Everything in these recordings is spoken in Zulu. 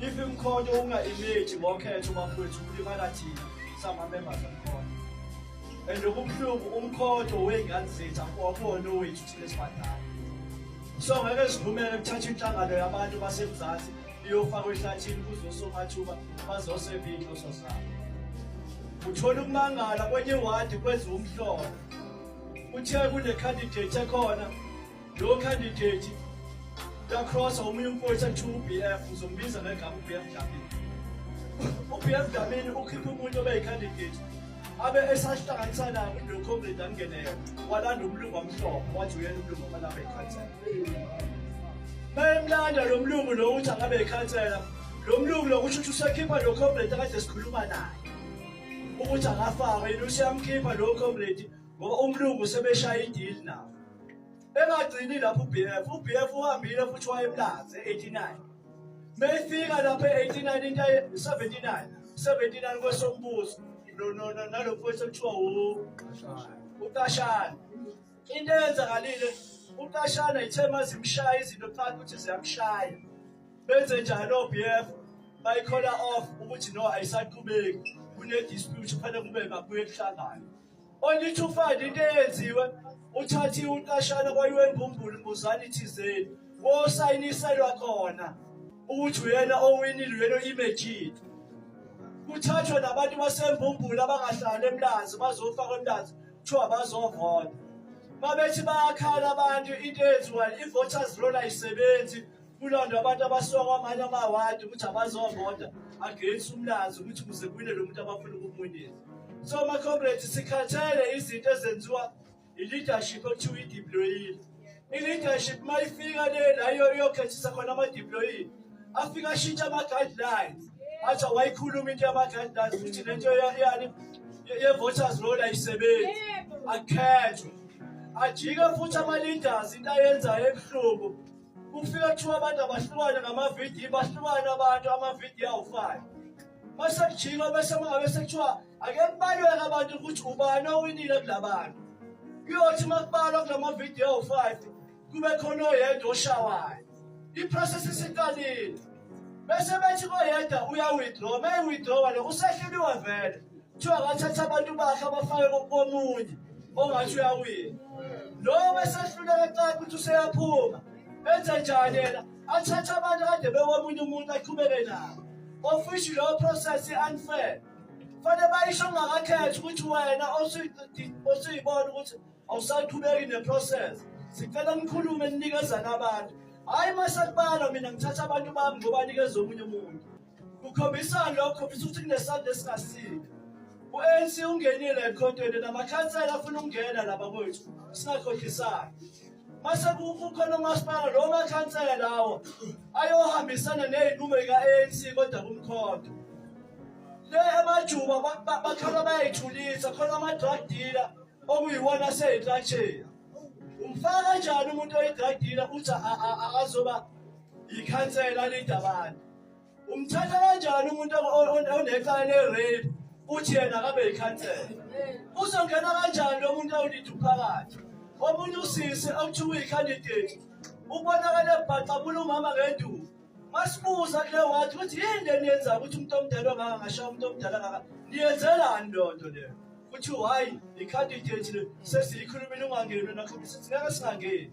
Yiphi imkhonyo unga-imeji ngokhetho bafowethu kulimala thina sama-members omkhonyo and okubuhlungu umkhonyo wey'ngane zethu akuwabona owethu thina esibadala so ngeke sivumele kuthatha inhlangano yabantu basemzansi iyofakwa ehlathini kuzosomathuba bazoseva iy'nhloso zabo uthola ukumangala kwenye iwadi kwenziwa umhlolo kuthiwe kunecandidate ekhona Lo candidate lacross omunye umfowethu athiwa uBF uzombiza ngegama uBF Dlamini. UBF Dlamini ukhiphe umuntu obeyicandidate abe esahlanganisa nabo noComrade Angenele walanda umlungu omhlophe wathi uyena umlungu ofanele ikhansela. Bayemlanda lo mlungu lo ukuthi angabe ikhansela. Lo mlungu lo kusho ukuthi usekhipha lo comrade akade sikhuluma naye. Ukuthi akafakwe yini usiyamkhipha lo comrade ngoba umlungu sebeshaya idili nawo. engagcini lapho uBF uBF uhambile futhi wayemlaze 89 meyifika lapho 89 into 79 79 kwesombuso no no no nalokho kwesokuthiwa uqashana into eyenzakalile uqashana ithe mazimshaya izinto phakathi ukuthi ziyamshaya benze njalo oBF bayikhola off ukuthi no ayisaqhubeki kune dispute kufanele kube mabuye kuhlangane Onithufayo into eyenziwe uthathe uqashana kwayiwembumbulu mbuzani thizeni wosayiniselwa khona ukuthi uyena owinile uyena oyimejithi kuthathwa nabantu basembumbulu abangahlali emlanzi bazofakwa emlanzi kuthiwa bazovota mabethi bayakhala abantu into eyenziwayo i-voters roll ayisebenzi kulondwa abantu abasuka kwamanye amawadi ukuthi abazovota against umlanzi ukuthi kuze kwine lo muntu abafuna ukumwinisa so macomrades sikhathele izinto ezenziwa i-leadership okuthiwa ideployile i-leadership uma ifika le la iyokhethisa khona amadeployile afike ashintshe ama-guidelines athi awayikhuluma into yama-guidelines ukuthi le nto yani ye-voters roll ayisebenzi akhethwe ajike futhi ama-leaders into ayenzayo ebuhlungu kufika kuthiwa abantu abahlukane ngamavidiyo bahlukane abantu amavidiyo awufani masekujinwa bese mangabe sekuthiwa ake kubalweke abantu ukuthi ubani owinile kula bantu kuyothi uma kubalwa kula mavidiyo awu-five kube khona oyedwa oshawayo i-process isiqalile bese bethi koyedwa uya-withdraw uma i-withdrawa lo usehleliwa vele kuthiwa ngathatha abantu bakhe abafake komunye ongathi uyawina lowo besehluleka xa ukuthi useyaphuma enze njani yena athathe abantu kade bekomunye umuntu aqhubeke nabo ofishi lowo process i-unfair fanele bayisho ungakakhethi ukuthi wena osuyibona ukuthi awusaqhubeki neprocess sicela nikhulume ninikezana abantu hhayi uma sekubala mina ngithatha abantu bami ngobanikeza omunye umuntu Kukhombisani lokho kukhombisa ukuthi kunesandla esingasile. U-ANC ungenile ekhontweni namakhansela afuna ukungena laba kwethu singakhohlisani. Mase kukhona umasipala lo makhansela lawo ayohambisana nezinqumo zika-ANC kodwa kumkhonto. Le emajuba bakhala bayayithulisa khona ama-drug dealer okuyiwona aseyinhlatsheni. Umfaka kanjani umuntu oyidradila uthi azoba yikhansela lidabane? umthatha kanjani umuntu onecala le-rape uthi yena akabe yikhansela uzongena kanjani lo muntu awulidi umphakathi omunye usisi awuthiwa uyikhandidate ubonakale ebhaxabula umama ngenduku masibuza kule wathi ukuthi yini le niyenza ukuthi umuntu omdala ongaka ngashaya umuntu omdala ngaka niyenzelani loo nto leyo kuthiwa hhayi ikhandidate le sesiyikhulumile ungangeni nakho sithi ngeke singangeni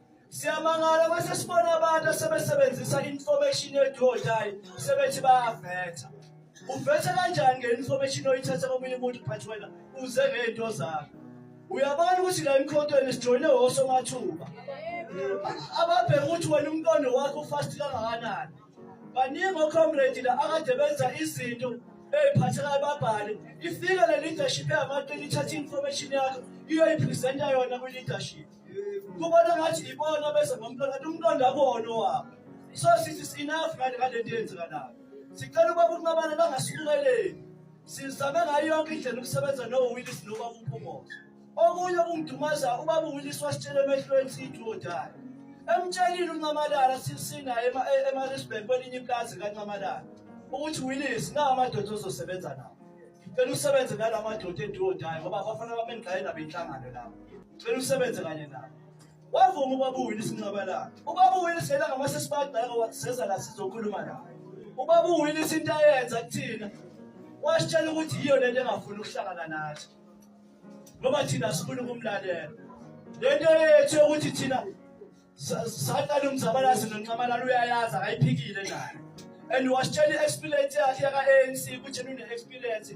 Siyamangala mase sibona abantu asebesebenzisa information yethu odayi sebethi bayavetha. Uvetha kanjani nge-information oyithatha komunye umuntu but wena uze ngey'nto zakho. Uyabona ukuthi la emkhontweni sijoyine wosomathuba. Ababheka ukuthi wena umqondo wakho ufast kangakanani. Baningi ocomrade la akade benza izinto eyiphathekayo babhale. Ifike le leadership yamato ithatha i-information yakho iyoyipresenta yona kwi-leadership. kubona ngathi ibona bese ngomntwana kanti umntwana abona owabo so sithi sinafu ngale ngale nto yenzeka nayo sicela ukuba kunqabana bangasibukeleli sizame ngayo yonke indlela ukusebenza nowillis noba umphumuzo okunye okungidumaza ubaba uwillis wasitshela emehlweni siyithi wodayo emtshelile uncamalala sinaye emarisburg kwelinye iplazi kancamalala ukuthi willis nawo amadoda ozosebenza nawo ngicela usebenze nala madoda endiwodayo ngoba abafana bamengqaye nabo inhlangano lapho Ngicela usebenze kanye nami. Wavuma ubaba uwini isinqaba lakhe. Ubaba uwini sela ngamase sibagceka waseza la sizokhuluma naye. Ubaba uwini isinto ayenza kuthina. Wasitshela ukuthi yiyo lento engafuni ukuhlangana nathi. Ngoba thina sifuna ukumlalela. Lento yethu ukuthi thina saqala umzabalazi nonxamalala uyayazi akayiphikile naye. And wasitshela i-experience yakhe yaka-ANC ukuthi nine-experience